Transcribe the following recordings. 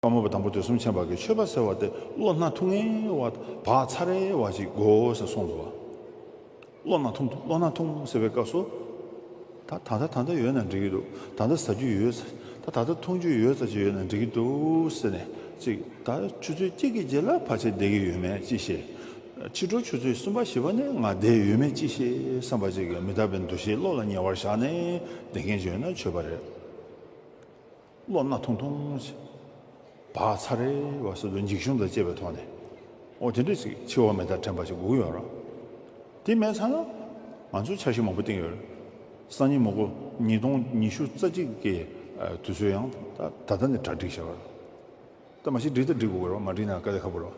དཔའ་མོ་བ་དང་པོ་དེ་གསུམ་ཆེན་བར་གྱི་མཆོད་པ་ཟེར་བ་དེ་བློ་སྣ་ཐུང་ངེ་བ་བག་ཚ་རེ་བ་ཅིག་དགོས་ཟེར་སོང་འདུག་བློ་སྣ་ཐུང་བློ་སྣ་ཐུང་ཟེར་བའི་སྐབས་སུ། ད་ད་ལྟ་ད་ལྟ་ཡོད་ན་འགྲིག་གི་འདུག་ད་ལྟ་ཟ་རྒྱུ་ཡོད་ད་ད་ལྟ་འཐུང་རྒྱུ་ཡོད་ཟ་རྒྱུ་ཡོད་ན་འགྲིག་གི་འདུག་ཟེར་ནས་ཅིག་ད་ཆུ་ཚོད་གཅིག་གི་རྗེས་ལ་ཕར་ཆེར་བསྡད་ཀྱི་ཡོད་མེད་ཅི་ཤེས། ཕྱི་དྲོ་ཆུ་ཚོད་གསུམ་པ་བཞི་པ་ནས་ང་བསྡད་ཡོད་མེད་ཅི་ཤེས་བསམ་པ་ཅིག་མི་དག་པའི་འདུ་ཤེས་བློ་ལ་ཉེ་བར་བཞག་ནས་བསྡད་མཁན་ཡོད་ན་བྱོས་པ་རེད། བློ་སྣ་ཐུང་ཐུང་ཞིག་བག་ཚ་རེ་བ་སོ་སོའི་འཇིགས་ཞུམ་དང་བཅས་པའི་ཐོག་ནས་ཨོ་དེ་འདྲ་ཞིག་འཆི་བ་མེ་ལྟར་དྲན་པ་ཞིག་སྒུག་ཡོད་རང། དེ་མེད་ཚར་ན་ང་ཚོས་འཆར་གཞི་མང་པོ་བཏིང་ཡོད་རེད། སང་ཉིན་མོ་སྒོ་ཉིས་སྟོང་ཉི་ཤུ་རྩ་གཅིག་གི་དུས་ཚོད་ཡང་ད་ལྟ་ནས་གྲ་སྒྲིག་བྱས་པ་རེད། ད་མ་ཤི་སྒྲིག་ད་སྒྲིག་དགོས་རེད་བ་མ་སྒྲིག་ན་དཀའ་ལས་ཁ་པོ་རེད་བ།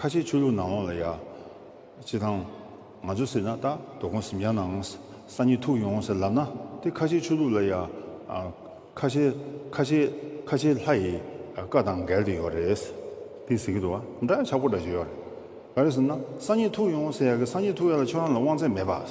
ཁ་ཆེའི་ཆོས་ལུགས་ནང་ལོགས་ལ་ཡ། སྤྱི་དང། ང་ཚོ་ཟེར་ན་རྟག་རྡོ་སྒོང་ཟིམ་རྒྱ་ནང་ས་གཉིས་ཐུག་ཡོང་ཟེར་ལབ་ན་དེ་ཁ་ཆེའི་ཆོས་ལུགས་ལ་ཡ། ཁ་ཆེ། ཁ་ཆེ། ཁ་ཆེའི་ལྷ་ཡི་བཀའ་དང་འགལ་དུ་ཡོད་རེད། དེ་ཟེར་གི་འདུག་བ་འདྲ་ཆག་པོ་འདྲ་བྱས་ཡོད་རེད། ག་རེ་ཟེར་ན་ས་གཉིས་ཐུག་ཡོང་ཟེར་ཡ་གི་ས་གཉིས་ཐུག་ཡ་ལ་ཆོས་རང་ལ་དབང་ཚད་མེད་པ།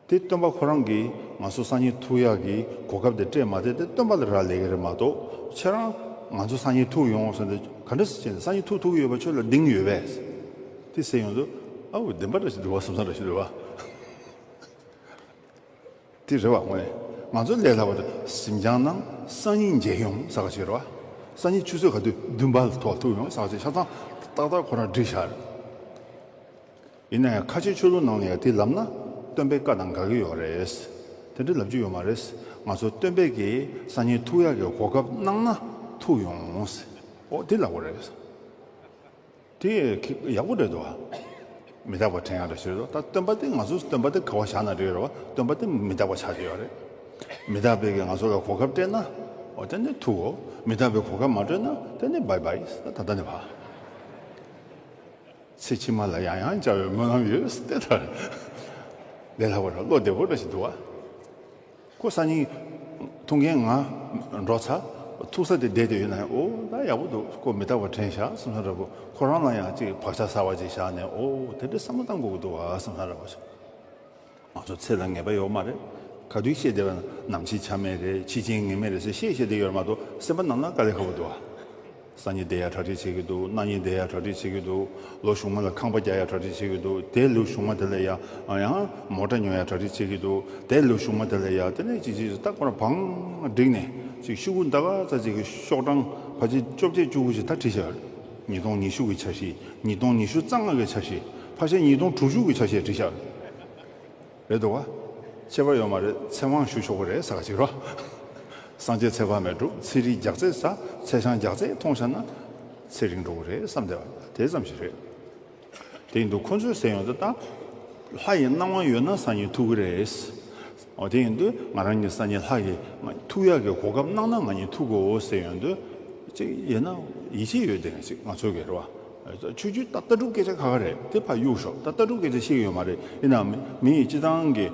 དེ་སྟོན་པ་ཁོ་རང་གིས་ང་ཚོ་སང་ཉིན་ཐུག་ཡག་གི་གོ་སྐབས་དེ་སྤྲད་མ་བསྡད་དེ་སྟོན་པ་ལ་རག་ལས་ཀྱི་རེད་མ་གཏོགས་ཁྱེད་རང་ང་ཚོ་སང་ཉིན་ཐུག་ཡོང་ཟེར་ནས་ག་འདྲ་བྱས་ནས་སང་ཉིན་ཐུག་ཐུག་གི་ཡོད་པ་ཁྱོད་ལ་གདིང་ཡོད་པས་དེ་ཟེར་ཡོང་དུས་ཨ་འོ་བདེན་པ་རེད་ཟེར་འདུག་བ་ཟམ་ཟམ་རེད་ཟེར་འདུག་བ། དེ་རེད་བ་དངོས་ནས་ང་ཚོ་ལས་སླ་བ་དེ་གཟིམ་ཆང་ནང་སང་ཉིན་མཇལ་ཡོང་ཟ་ག་ཅིག་རེད་བ། སང་ཉིན་ཆུ་ཚོད་ག་དུས་བདུན་པ་ལ་ཐོག་ཐུག་ཡོང་ཟ་ག་ཅིག་ཆ་ཚང་ཏག་ཏག་ཁོ་རང་བསྒྲིགས་བཞག་རེད། ཡིན་ནའི་ཁ་ཆེའི་ཆོས་ལུགས་ནང་ནས་ཡང་དེ་ལབ་ན་སྟོན་པའི་བཀའ་དང་དགའ་གི་ཡོད་རེད། དེ་འདྲ་ལབ་རྒྱུ་ཡོད་མ་རེད། ང་ཚོ་སྟོན་པས་ཀྱི་སང་ཉིན་ཐུག་ཡག་གི་གོ་སྐབས་གནང་ན་ཐུག་ཡོང། ཨོ་དེ་ལགས་པོ་རེད། དེ་ཡག་པོ་རེད་དོ། མི་རྟག་པ་དྲན་ཡག་རེད་ཟེར་དོ། ད་སྟོན་པ་དེ་ང་ཚོ་སྟོན་པ་དེ་ག་བ་བཞག་ན་རེད་ར་བ་སྟོན་པ་དེ་མི་རྟག་པ་ཆགས་ཀྱི་ཡོད་རེད། མི་རྟག་པས་ཀྱི་ང་ཚོ་ལ་གོ་སྐབས་སྤྲད་ན་ཨོ་དེ་ནི་ཐུག་གོ། མི་རྟག་པས་གོ་སྐབས་མ་སྤྲོད་ན་དེ་ནི་བའི་བའི། ད་ད་ནི་བ། ཚེ་ཕྱི་མ་ལ་ཡང་ཡང་བཅར་བའི་སྨོན་ལམ་ཡོད་སྟེ། ད་ལྟའི་ལྷག་པར་བློ་བདེ་བོ་འདྲ་ཞིག་འདུག་ཨ། ཁོ་སང་ཉིན་ཐུག་མཁན་ང་འགྲོ་ཚར་ཐུག་ས་དེ་བསྡད་དེ་ཡོད་ན་ཡང་ཨོ་ད་ཡག་པོ་འདུག་ཁོ་མི་རྟག་པར་དྲན་བཞག་བསམ་ས་ར་བུ་ཁོ་རང་ལ་ཡང་ཅིག་བག་ཆགས་ཟ་བ་ཅིག་བཞག་ནས་ཨོ་དེ་འདྲའི་བསམ་བློ་བཏང་དགོས་ཀྱི་འདུག་ཨ་བསམ་ས་ར་བུ། ང་ཚོ་ཚེ་ལ་ངེས་པ་ཡོད་མ་རེད། ག་དུས་བཤད་བསྡད་པ་ནམ་ཕྱིན་ཆ་མེད་རེད་ཕྱི་ཆིངས་ངེས་མེད་རེད་ཟེར་ཤེས་བཤད་བསྡད་ཡོད་རེད་མ་གཏོགས་སེམས་པ་ནང་ན་དཀའ་ལས་ཁག་པོ་འདུག་ཨ། སང་ཉིན་བསྡད་ཡ་གྲ་སྒྲིག་བྱེད་གི་འདུག་གནངས་ཉིན་བསྡད་ཡ་གྲ་སྒྲིག་བྱེད་གི་འདུག་ལོ་གཞུག་མ་ལ་ཁང་པ་རྒྱག་ཡ་གྲ་སྒྲིག་བྱེད་གི་འདུག་དེ་ལོའི་གཞུག་མ་དེ་ལ་ཡ་ཡང་མོ་ཏྲ་ཉོ་ཡ་གྲ་སྒྲིག་བྱེད་གི་འདུག་དེ་ལོའི་གཞུག་མ་དེ་ལ་ཡ་དེ་ནས་ཅིག་ཅིག་ཅིག་རྟག་པར་བང་བསྒྲིགས་ནས་ཅིག་ཤུ་གུ་འདའ་ག་ཚ་ཅིག་ཤོག་གྲངས་བ་ཅིག་བཅོ་བརྒྱད་བཅུ་དགུ་ཞིག་ད་བྲིས་བཞག་ཡོད་རེད། ཉིས་སྟོང་ཉི་ཤུ་གྱི་ཆ་ཤས་ཉིས་སྟོང་ཉི་ཤུ་རྩ་ལྔ་གི་ཆ་ཤས་ཕ་ཤ་ཉིས་སྟོང་དྲུག་ཅུ་གི་ཆ་ཤས་བྲིས་ཤག་རེད་འདུག་ག་ཁྱད་པར་ཡོད་མ་རེད་ཚེ་དབང་ཞུ་ཆོག་གི་རེད་ས་ག་ཅིག་རོགས་སངས་རྒྱས་ཚེ་དཔག་མེད་འགྲོ་ཚེ་རིལ་རྒྱག་ཚེ་ས་ཚེ་ཆང་རྒྱག་ཚེ་ཐོང་ཤ་ན་ཚེ་རིང་འགྲོ་གི་རེད་བསམ་བསྡད་པ་དེ་ཙམ་ཞིག་རེད། དེ་འདུག་ཁོ་ཚོས་ཟེར་ཡོང་ས་ད། ལྷ་ཡི་སྣང་བ་ཡོད་ན་སང་ཉིན་ཐུག་གི་རེད། འོ་དེ་ཡིན་དུས་ང་རང་གིས་སང་ཉིན་ལྷ་གི་ཐུག་ཡག་གི་གོ་སྐབས་གནང་ན་ང་ཉིད་ཐུག་གོ་ཟེར་ཡོང་དུས། ཅིག་ཡིན་ན་ཡིད་ཆེས་ཡོད་དེ་ཅིག་ང་ཚོ་གི་རེད་བ། ཆོས་རྒྱུད་ད་ལྟ་གྲུབ་སྐད་ཆ་ཁ་ཁ་རེད་དེ་ཕ་གཡུག་ཞོག་ད་ལྟ་གྲུབ་སྐད་ཆ་ཤེས་གི་ཡོད་མ་རེད་ཡིན་ནའང་མི་ཡི་སྤྱི་བཏང་གི་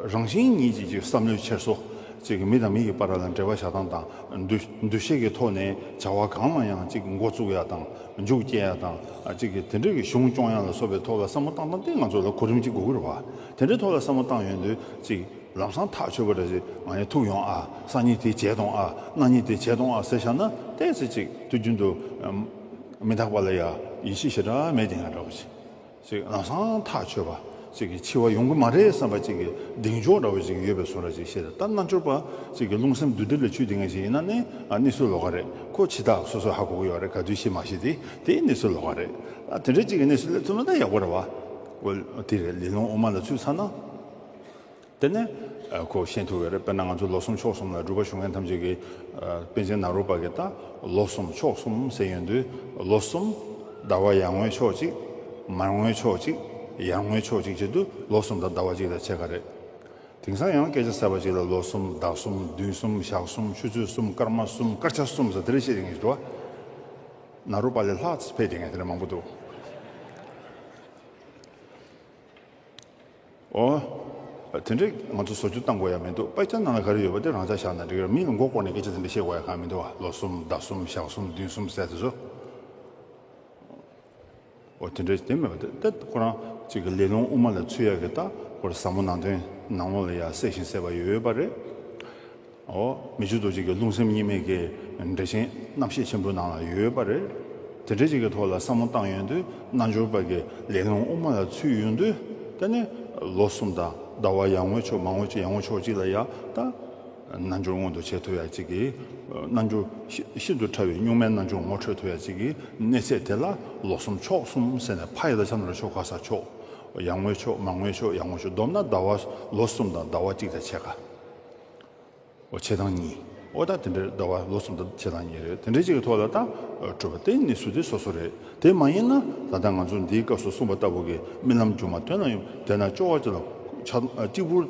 རང་བཞིན་ཉིད་ཅིག་ཅིག་བསམ་བློའི་འཁྱེར་སོ། ཅིག་མི་དང་མི་གི་པ་ར་ལ་འབྲེལ་བ་བྱ་སྟངས་དང། འདུ་ཤེས་ཀྱི་ཐོག་ནས་བྱ་བ་གང་ལ་ཡང་ཅིག་མགོ་བཙུགས་ཡག་དང་མཇུག་སྐྱེལ་ཡ་དང། གཅིག་གིས་དེ་འབྲེལ་གྱི་གཞུང་སྐྱོང་ཡ་ལ་སོགས་པའི་ཐོག་ལ་བསམ་བློ་བཏང་སྟངས་དེ་ང་ཚོ་ལ་གོ་རིམ་གཅིག་དགོས་ཀྱི་རེད་བ། དེ་འདྲའི་ཐོག་ལ་བསམ་བློ་བཏང་ཡོད་དུས་གཅིག་ལམ་སང་ཐག་ཆོད་པ་རེད་ཟེར་ང་ཡང་ཐུག་ཡོང་ཨ་སང་གཉིས་དེ་བྱས་སྟོང་ཨ་གནངས་གཉིས་དེ་བྱས་སྟོང་ཨ་ཟེར་བཞག་ན་ལྟས་ཚེ་གཅིག་དུས་རྒྱུན་དུ་མི་འཐག་པ་ལ་ཡ་ཡི་ཤི་ཞེ་དྲག་མེད་ཀྱི་ང་འདྲ་བོ་ཞིག། ཅིག་ང་སང་ཐག་ཆོད་པ་ཅིག་གིས་འཆི་བ་ཡོང་གི་མ་རེད་བསམ་པ་ཅིག་གིས་གདེང་འཇོག་འདྲ་བོ་ཅིག་ཡོད་པའི་བཟོ་ར་ཅིག་ཤེས་སྟབས་རྣལ་འབྱོར་པ་ཅིག་གིས་རླུང་སེམས་བདུད་སྡེ་ལས་ཆུད་དེ་ངན་ཞིག་ཡིན་ན་ནི་ནི་སུའི་ལོ་ག་རེད་ཁོ་འཆི་བདག་སོ་སོ་ཧ་གོ་གི་ཡོད་རེད་ག་དུས་ཤི་མ་ཤི་དེ་དེ་ནི་སུའི་ལོ་ག་རེད་ད་དེ་འདྲ་ཅིག་གི་གནས་སུ་སླེབས་ཐུབ་ན་ད་ཡག་པོ་རེད་བ། དེ་རེད་ལས་རླུང་དབུ་མ་ལ་ཚུད་ཚར་ན། དེ་ནས་ཁོས་བཤད་ཐུབ་ཀྱི་རེད་དཔེར་ན་ང་ཚོ་ལོ་གསུམ་ཕྱོགས་གསུམ་ལ་སྒྲུབ་པ་ཞུ་མཁན་ཐམས་ཅད་ཀྱིས་དཔེ་ཆའི་ནང་རུ་བབས་ཀྱི་དང་ལོ་གསུམ་ཕྱོགས་གསུམ་ཟེར་ཡོང་དུས་ལོ་གསུམ། ཟླ་བ་ཡར་ངོའི་ཕྱོགས་གཅིག། མར་ངོའི་ཕྱོགས་གཅིག། ཡར་ངོའི་ཕྱོགས་གཅིག་བྱེད་དུས་ལོ་གསུམ་དང་ཟླ་བ་གཅིག་དང་ཕྱེད་ཀ་རེད། དེང་སང་ཡང་སྐད་ཆ་གསར་པ་གཅིག་ལ་ལོ་གསུམ་ཟླ་གསུམ་བདུན་གསུམ་ཞག་གསུམ་ཆུ་ཚོད་གསུམ་སྐར་མ་གསུམ་སྐར་ཆ་གསུམ་ཟེར་དེ་རིང་བཤད་དེ་རིང་ཞུ་བ། ནང་རུ་པ་ལས་ལྷག་ཕེབས་དེ་ངས་དེ་ལས་མང་པོ་འདུག། ཨོ། དེ་འདྲས་ང་ཚོ་བཟོ་བཅོས་བཏང་དགོས་ཡ་མི་འདུག་དཔེ་ཆ་ནང་ལ་ག་རེ་ཡོད་པ་དེ་རང་འཇགས་བཞག་ན་འགྲིག་ར་མིས་ལ་མགོ་བསྐོར་ནས་སྐད་ཆ་དེ་འདྲ་བཤད་དགོས་ཡ་གང་མི་འདུག་ཨ་ལོ་གསུམ་ཟླ་གསུམ་ཞག་གསུམ་བདུན་གསུམ་ཟེར་དེ་ཟོ། ཨོ་དེ་འདྲས་དེ་མེད་པ་དེ་ད་ཁོ་རང་གཅིག་གི་ལས་རླུང་དབུ་མ་ལ་ཚུད་ཡ་གི་ད་ཁོ་ར་ཟབ་མོ་ནང་དོན་ནང་ལོགས་ལ་ཡ་གསལ་ཞིང་གསལ་བ་ཡོད་པ་རེད། འོ། མི་བཅུ་དོ་གཅིག་གི་རླུང་སེམས་གཉིས་མེད་ཀྱི་འགྲེལ་ཆེན་རྣམ་བཤད་ཆེན་པོའི་ནང་ལ་ཡོད་པ་རེད། དེ་འགྲེལ་བྱེད་ཀྱི་ཐོག་ལ་བསམ་བློ་བཏང་ཡོང་དུས་རྣལ་འབྱོར་པ་ཀྱི་ལས་རླུང་དབུ་མ་ལ་ཚུད་ཡོང་དུས་དེ་ནི་ལོ་གསུམ་དང་ཟླ་བ་ཡར་ངོའི་ཕྱོགས་མར་ངོའི་ཕྱོགས་ཡར་ངོའི་ཕྱོགས་གཅིག་ལ་ཡར་དང། རྣལ་འབྱོར་སྔོན་དུ་བྱས་ཐུབ་ཡ་གཅིག་གིས་རྣལ་འབྱོར་ཤིན་ཏུ་ཕྲ་བའི་གཉུག་མའི་རྣལ་འབྱོར་ངོ་འཕྲོད་ཐུབ་ཡ་གཅིག་གི་གནས་ཚད་དེ་ལ་ལོ་གསུམ་ཕྱོགས་གསུམ་ཟེར་ནས་ཕ་ཡི་ལ་ཆ་ནོར་ཕྱོགས་ཁ་སར་ཕྱོགས་ཡར་ངོའི་ཕྱོགས་མར་ངོའི་ཕྱོགས་ཡར་ངོའི་ཕྱོགས་བསྡོམས་ན་ཟླ་བ་ལོ་གསུམ་དང་ཟླ་བ་གཅིག་དང་ཕྱེད་ཀ། བྱེད་སྟངས་གཉིས། ཨོ་ད་དེ་འདྲ་རེད་ཟླ་བ་ལོ་གསུམ་དང་བྱེད་སྟངས་གཉིས་རེད་དེ་འདྲ་གཅིག་གི་ཐོག་ལ་ད་སྤྲོད་པ་དེ་ནི་ཟུར་དེ་སོ་སོ་རེད་དེ་མ་ཡིན་ན་ད་ལྟ་ང་ཚོ་འདིའི་སྐབས་སུ་གསུངས་པ་ལྟ་བུ་གི་རྨི་ལམ་རྒྱུ་མ་ཐོན་ན་ཡོང་དེས་ན་སྤྱོ་བ་ལ་གཅིག་པུར་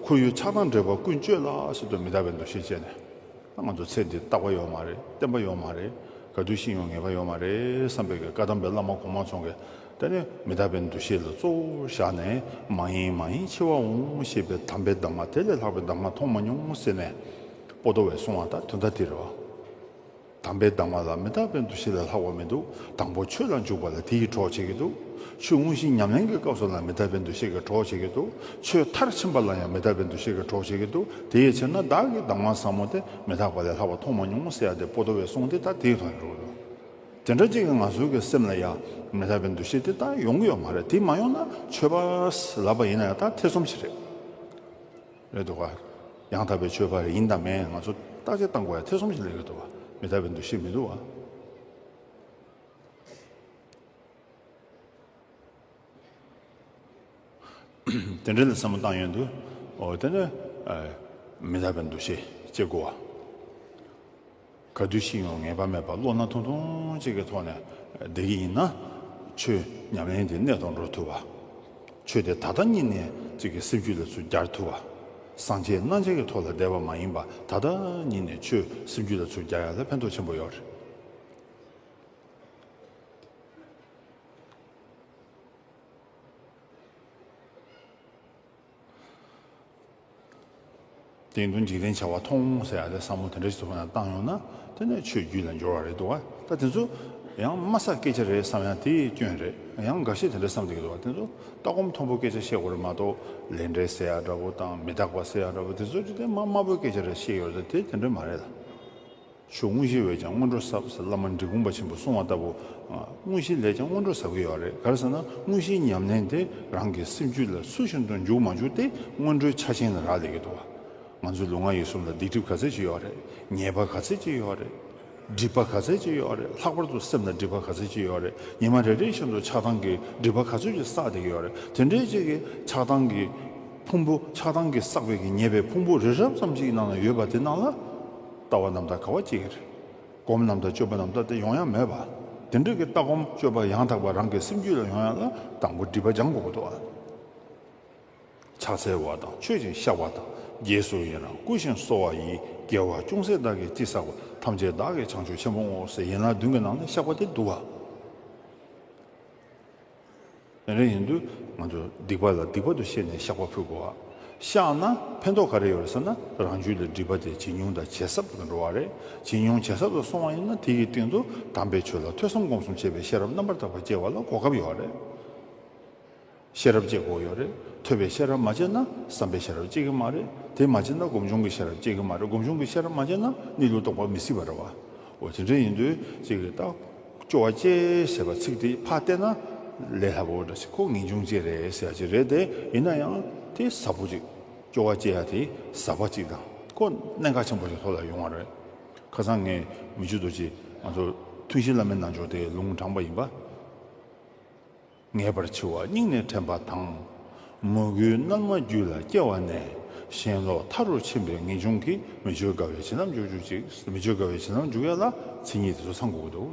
ཁོར་ཡུག་ཆགས་སྟངས་འདྲེས་པ་ཀུན་སྤྱོད་ལ་སོ་སོ་མི་དག་པའི་འདུ་ཤེས་སྤྱད་ནས་ང་ཚོ་ཚེ་འདི་རྟག་པ་ཡོད་མ་རེད་བརྟན་པ་ཡོད་མ་རེད་ག་དུས་ཤིང་ཡོང་ངེས་པ་ཡོད་མ་རེད་བསམ་པའི་གི་བཀའ་གདམས་པའི་བླ་མ་གོང་མ་ཚོང་གི་དེ་ནས་མི་རྟག་པའི་འདུ་ཤེས་ལ་གཙོ་བོར་བཞག་ནས་མ་ཡེངས་མ་ཡེངས་འཆི་བ་འོང་ཞེས་པའི་དམ་པའི་གདམས་ངག་དེ་ལས་ལྷག་པའི་གདམས་ངག་མཐོང་མ་མྱོང་ཟེར་ནས། པོ་ཏོ་བས་གསུང་བ་དང་དོན་དག་འདི་རེད། དམ་པའི་གདམས་ངག་ལ་མི་རྟག་པའི་འདུ་ཤེས་ལས་ལྷག་པ་མི་འདུག་དང་པོ་ཆོས་ལ་འཇུག་པ་ལ་དེ་ཡིས་གྲོགས་བྱེད་ཀྱི་འདུག་ཆོས་དངོས་གཞི་ཉམས་ལེན་གྱི་སྐབས་སུ་ལ་མི་རྟག་པའི་འདུ་ཤེས་ཀྱིས་གྲོགས་བྱེད་ཀྱི་འདུག་ཆོས་མཐར་ཕྱིན་པ་ལ་ཡང་མི་རྟག་པའི་འདུ་ཤེས་ཀྱིས་གྲོགས་བྱེད་ཀྱི་འདུག་དེ་ཡི་ཕྱིར་ན་བདག་གིས་གདམས་ངག་ཟབ་མོ་དེ་མི་རྟག་པ་ལས་ལྷག་པ་མཐོང་མ་མྱོང་ཟེར་ཡ་དེ་པོ་ཏོ་བས་གསུང་དེ་ལྟར་དེའི་དོན་བསྒྲུབས། དེ་འདྲ་གཅིག་གིས་ང་ཚོའི་གི་སེམས་ལ་ཡ་མི་ད་པའི་འདུ་ཤེས་དེ་དག་ཡོང་གི་ཡོད་མ་རེད་དེ་མ་ཡོང་ན་ཆོས་པ་ལབ་པ་ཡིན་ན་ཡང་དག་ཐེ་ཚོམ་ཞིག་རེད་རེད་འདུག་ག་ཡང་དག་པའི་ཆོས་པ་རེད་ཡིན་དང་མེད་ང་ཚོ་བརྟག་དཔྱད་བཏང་དགོས་ཡ་ཐེ་ཚོམ་ཞིག་ལས་རེད་འདུག་ག་མི་ད་པའི་འདུ་ཤེས་མི་འདུག་ག། དེ་འདྲའི་ལ་སེམས་མ་བཏང་ཡོན་དུ། འོ་དེ་ནི། མི་ལ་བའི་འདུ་ཤེས་ཅེས་བསྒོ་བ། ག་དུས་ཤིག་ཡང་ངེས་པ་མེད་པར་བློ་སྣ་ཐུང་ཐུང་ཅིག་གི་ཐོག་ནས་བསྡད་ཀྱི་ཡིན་ན། ཆོས་ཉམས་ལེན་དེ་གནད་དུ་འགྲོ་ཐུབ་བ། ཆོས་དེ་ད་ལྟ་གཉིས་ནས་ཅིག་གི་སེམས་རྒྱུད་ལ་ཚུར་རྒྱར་ཐུབ་བ། སངས་རྒྱས་རྣམ་འབྱེད་ཀྱི་ཐོག་ལ་བསྡད་པ་མ་ཡིན་པར་ད་ལྟ་གཉིས་ནས་ཆོས་སེམས་རྒྱུད་ལ་ཚུར་རྒྱག་ཡ་ལ་ཕན་ཐོགས་ཆེན་པོ་ཡོད་རེད། དེ་ཡིན་དུ་འཇིག་རྟེན་བྱ་བ་ཐོང་ཟེར་ཡ་དེ་ས་མོ་དེ་འདྲ་ཞིག་ཏུ་བཏང་ཡོང་ན་དེ་ནས་ཆོས་བརྒྱུད་ལ་འབྱོར་བ་རེད་འདུག་ད་དེ་ཚོ་ཡང་དམའ་ས་སྐད་ཆ་རེད་བསམ་ཡང་དེ་སྐྱོན་རེད་ཡང་འགའ་ཤས་དེ་འདྲ་བསམ་དགོས་འདུག་དེ་ཚོ་ལྟ་སྒོམ་མཐོན་པོ་སྐད་ཆ་བཤད་དགོས་རེད་མ་གཏོགས་ལས་འབྲས་ཟེར་ཡ་འདྲ་པོ་དང་མི་རྟག་པ་ཟེར་ཡ་འདྲ་པོ་དེ་ཚོ་འཇིག་རྟེན་དམའ་དམའ་པོའི་སྐད་ཆ་རེད་བཤད་ཡོད་རེད་དེ་དེ་འདྲ་མ་རེད་ལ། ཆུ་དངོས་གཞི་བས་ཀྱང་སྔོན་འགྲོ་ཟབ་ཟེར་བླ་མ་འབྲི་གུང་པ་ཆེན་པོ་གསུང་བ་ལྟ་བུ། དངོས་གཞི་ལས་ཀྱང་སྔོན་འགྲོ་ཟབ་གི་ཡོད་རེད་ག་རེ་ཟེར་ན་དངོས་གཞིའི་ཉམས་ལེན་དེ་རང་གི་སེམས་རྒྱུད་ལ་ཚུལ་བཞིན་དུ་འཇུག་མ་འཇུག་དེ་སྔོན་འགྲོའི་ཆ་ཆེན་ལ་རག་ལས་ཀྱི་འདུག་བ། ང་ཚོའི་ལུས་ངག་ཡིད་གསུམ་ལ་སྡིག་སྒྲིབ་ག་ཚད་ཅིག་ཡོད་རེད། ཉེས་པ་ག་ཚད་ཅིག་ཡོད་རེད། སྒྲིབ་པ་ག་ཚད་ཅིག་ཡོད་རེད་ལྷག་པར་དུ་སེམས་ལ་སྒྲིབ་པ་ག་ཚད་ཅིག་ཡོད་རེད་ཉི་མ་རེ་རེ་བཞིན་དུ་ཆགས་སྡང་གི་སྒྲིབ་པ་ག་ཚོད་ཅིག་བསགས་བསྡད་ཀྱི་ཡོད་རེད་དེ་འདྲའི་ཅིག་གི་ཆགས་སྡང་གི་ཕུང་པོ་ཆགས་སྡང་གིས་བསགས་པའི་གི་ཉེས་པའི་ཕུང་པོ་རི་རབ་ཙམ་ཅིག་གི་ནང་ན་ཡོད་པ་དེ་རྣམས་ལ། ལྟ་བ་རྣམས་དང་ག་བ་སྐྱེ་གི་རེད། སྒོམ་རྣམས་དང་སྤྱོད་པ་རྣམས་ལྟ་དེ་ཡོང་ཡ་མེད་པ། དེ་འདྲ་གི་ལྟ་སྒོམ་སྤྱོད་པ་ཡང་དག་པ་རང་གི་སེམས་རྒྱུད་ལ་ཡོང་ཡ་ལ་དང་པོ་སྒྲིབ་པ་སྦྱང་དགོས་པ་འདུག་ཨ། ཕྱག་འཚལ་བ་དང་མཆོད་ཅིང་བཤགས་པ་དང་རྗེས་སུ་ཡི་རང་བསྐུལ་ཞིང་གསོལ་བ་ཡིས་རྒྱལ་བ་ཅུང་ཟད་བདག་གིས་ཅི་བསགས་པ་ཐམས་ཅད་བདག་གིས་བྱང་ཆུབ་ཆེན་པོ་བསྔོ་བ་སའི་ཡན་ལག་བདུན་གྱི་ནང་ནས་བཤགས་པ་དེ་འདུག་ཨ། ཡང་རེ་ཡིན་དུས་ང་ཚོ་སྡིག་པ་ལ་སྡིག་པ་དུ་ཤེས་ནས་བཤགས་པ་ཕུལ་དགོས་ཨ། བཤགས་ན་ཕན་ཐོགས་ག་རེ་ཡོད་རེད་ཟེར་ན་རང་རྒྱུད་ལ་སྒྲིབ་པ་དེ་ཇེ་ཉུང་དང་ཇེ་ཟབ་ཏུ་འགྲོ་བ་རེད། ཇེ་ཉུང་ཇེ་ཟབ་ཏུ་སོང་བ་ཡིན་ན་དེ་ཡི་སྟེང་དུ་དམ་པའི་ཆོས་ལ་ཐོས་བསམ་སྒོམ་གསུམ་བྱེད་པའི་ཤེས་རབ་རྣམ་པར་དག་པ་སྐྱེ་བ་ལ་གོ་སྐབས་ཡོད་རེད། ཤེས་རབ་སྐྱེ་དགོས་ཡོད་རེད། ཐོས་པའི་ཤེས་རབ་མ་སྐྱེས་ན་བསམ་པའི་ཤེས་རབ་སྐྱེ་གི་མ་རེད། དེ་མ་སྐྱེས་ན་སྒོམ་བྱུང་གི་ཤེས་རབ་སྐྱེ་གི་མ་རེད་སྒོམ་བྱུང་གི་ཤེས་རབ་མ་སྐྱེས་ན་གནས་ལུགས་རྟོགས་པ་མི་སྲིད་པ་རེད་བ། འོ་དེ་འདྲ་ཡིན་དུས་གཅིག་གིས་བརྟག། སྐྱོ་བ་སྐྱེ་ཞེས་པ་ཚིག་དེའི་ཕ་བལྟས་ན་ལས་སླ་བོ་འདྲ་ཞིག་ཁོ་ངེས་འབྱུང་ཅིག་རེད་ཟེར་ཡ་ཅིག་རེད་དེ་ཡིན་ན་ཡང་དེ་ཟབ་བོ་ཅིག་སྐྱོ་བ་སྐྱེ་ཡ་དེ་ཟབ་བ་ཅིག་དང་ཁོ་གནད་འགག་ཆེན་པོ་ཞིག་ལྷོ་ལ་ཡོང་བ་རེད། ཁ་སང་ངས་མི་ཇུ་རྡོ་རྗེས་ང་ཚོར་ཐུན་བཞིའི་བླ་མའི་རྣལ་འབྱོར་དེ་ལུང་དྲངས་པ་ཡིན་པ། ངེས་པར་འཆི་བ་སྙིང་ནས་དྲན་པ་དང། མོས་གུས་རྣལ་མ་རྒྱུད་ལ་སྐྱེ་བ་ནས། ཞེན་ལོག་མཐའ་རུ་ཕྱིན་པའི་ངེས་འབྱུང་གིས་མི་བརྗོད་དགའ་བའི་བྱིན་རླབས་འཇུག། མི་བརྗོད་དགའ་བའི་བྱིན་རླབས་འཇུག་ཡ་ལ་ཚེ་ཉིད་དེ་ཚོ་ཚང་དགོས་ཀྱི་འདུག།